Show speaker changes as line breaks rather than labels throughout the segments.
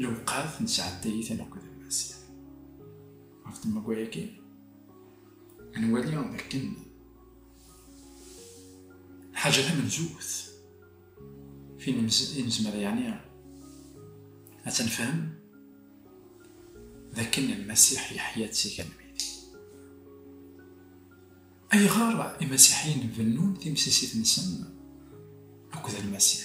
Lewqat nesɛedday-iten akked Lmasiḥ. Ɣef temguri-agi, ad nwali dakken lḥaǧa tamenzut fin i nezmer yeɛni ad tenfhem dakken Lmasiḥ yeḥya-d si kan midi. Ayɣer Imasiḥiyen bennun timsisit-nsen akked Lmasiḥ?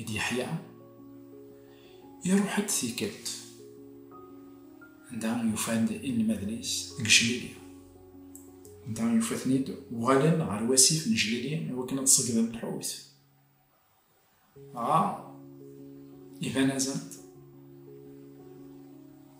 i d Yeḥya, iruḥ-d tikkelt anda yufa-d inelmaden-is deg Jlili. Anda yufa-ten-id uɣalen ɣer wasif n Jlili i wakken ad ṣeggden lḥut. Dɣa iban-asent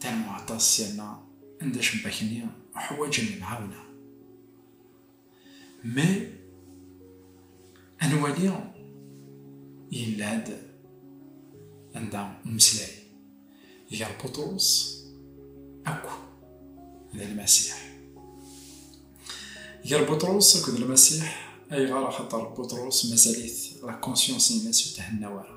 Ternu aṭas sirna anda cebbak-nni uḥwaǧen lemɛawna. Mais ad nwali yella-d anda umeslay gar Buṭrus akk d Lmasiḥ. Gar Buṭrus akk d Lmasiḥ ayɣer axaṭer Buṭrus mazal-it la conscience-nnes ur thenna wara.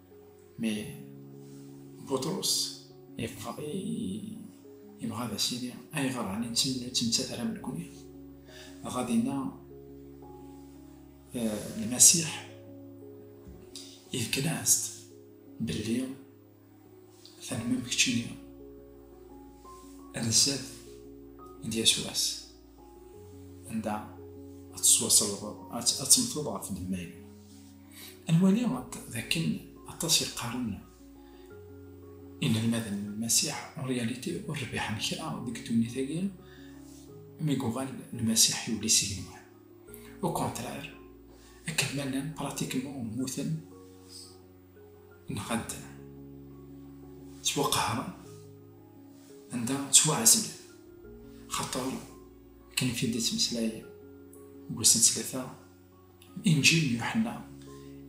Mais Butṛus yeffeɣ yebɣa ad as-yini ayɣer ɛni nettemttat ara nekkni dɣa dinna lmasiḥ yefkan-as-d belli ternam keččini ad d-yas wass anda ad tettwaṣelbeḍ ad temmteḍ ɣef lemmal ad nwali d akken aṭas yeqqaren inelmaden n lmasiḥ en réalité ur rbiḥen kra deg ddunit-agi mi yuɣal lmasiḥ yuli si lemwat au contraire akken ma llan pratiquement mmuten Nɣan-ten. Ttwaqehren anda ttwaɛezlen. Xaṭer akken i t-id-ittmeslay deg wass n ttlata Inǧil n Yuḥenna,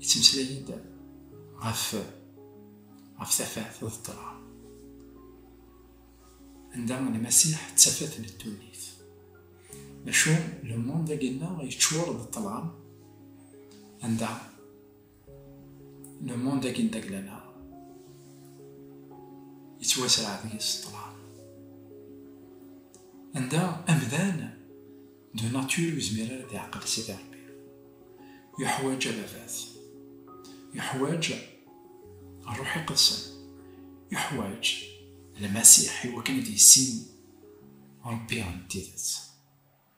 ittmeslay-d ɣef ɣef tafat d ṭṭlam anda Lmasiḥ d tafat n ddunit. Maca lemond-agi-nneɣ yeččur d ṭṭlam anda Le monde agi n taglala yettwasraɛ deg-s ṭṭlam. Anda amdan de nature ur yezmir ara ad iɛqel Sidi Ṛebbi. Yuḥwaǧ ababat. Yuḥwaǧ ṛṛuḥ iqedsen. Yuḥwaǧ Lmasiḥ iwakken ad yissin Ṛebbi n tidet.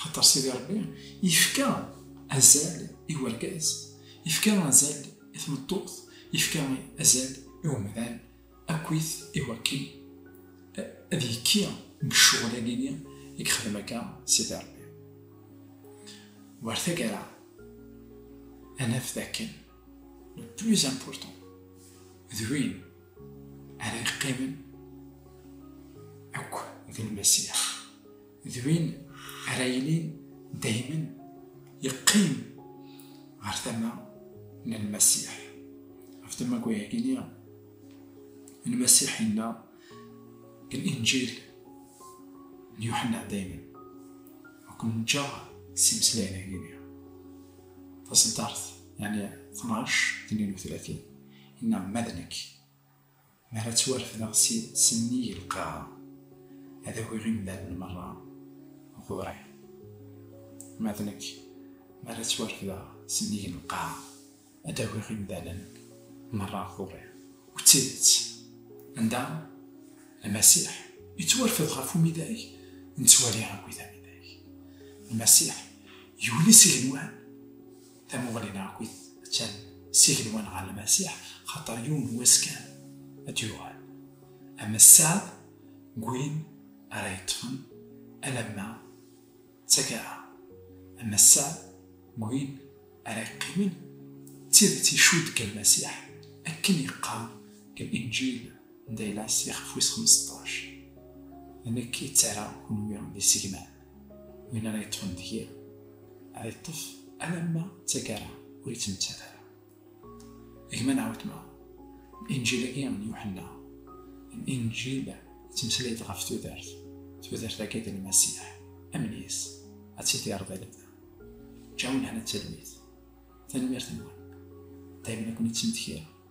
Xaṭer Sidi Ṛebbi ifka azal i urgaz, ifka azal i tmeṭṭut, ifka azal i umdan akkit i wakken ad yekki deg ccɣel-agi-nni i yexdem akka Sidi Ṛebbi. War taggara ad naf d akken le plus important d win ara yeqqimen akk d Lmasiḥ, d win ara yilin daymen yeqqim ɣer tama n lmasiḥ ɣef tamaggayagini lmasiḥ yenna deg linjil n yuḥenna daymen akken nǧaɣ s imeslayen-agini taseddart yani 12 32 yenna ma d nekk Mi ara ttwarefdeɣ si sennig lqaɛa, ad awiɣ imdanen merra ɣur-i. Ma d nekk, mi ara ttwarefdeɣ sennig lqaɛa, ad d-awiɣ imdanen merra ɣur-i. U d tidet, anda Lmasiḥ yettwarfed ɣef umidag, nettwali akk-it amidag. Lmasiḥ yuli s igenwan, Tamuɣli n Ɛakit attan s igenwan ɣer Lmasiḥ, xaṭer yiwen n wass kan ad d-yuɣal. Ama sseɛd n win ara yeṭṭfen alamma d taggara, ama sseɛd n win ara yeqqimen, d tidet icudd deg Lmasiḥ, akken yeqqar deg Linǧil n Daylas ixef wis xmesṭac, D nekk i d-ttarraɣ kunwi d isegman. win ara yeṭṭfen deg-i ad yeṭṭef alamma d tagara ur yettmettat ara gma neɣ wetma injil-agi n yuḥenna injil yettmeslay-d ɣef tudert tudert-agi d lmasiḥ amnis ad tidireḍ di lebda ǧawin hana d talmit tanemmirt-nwen daymen akun-ittmetkireɣ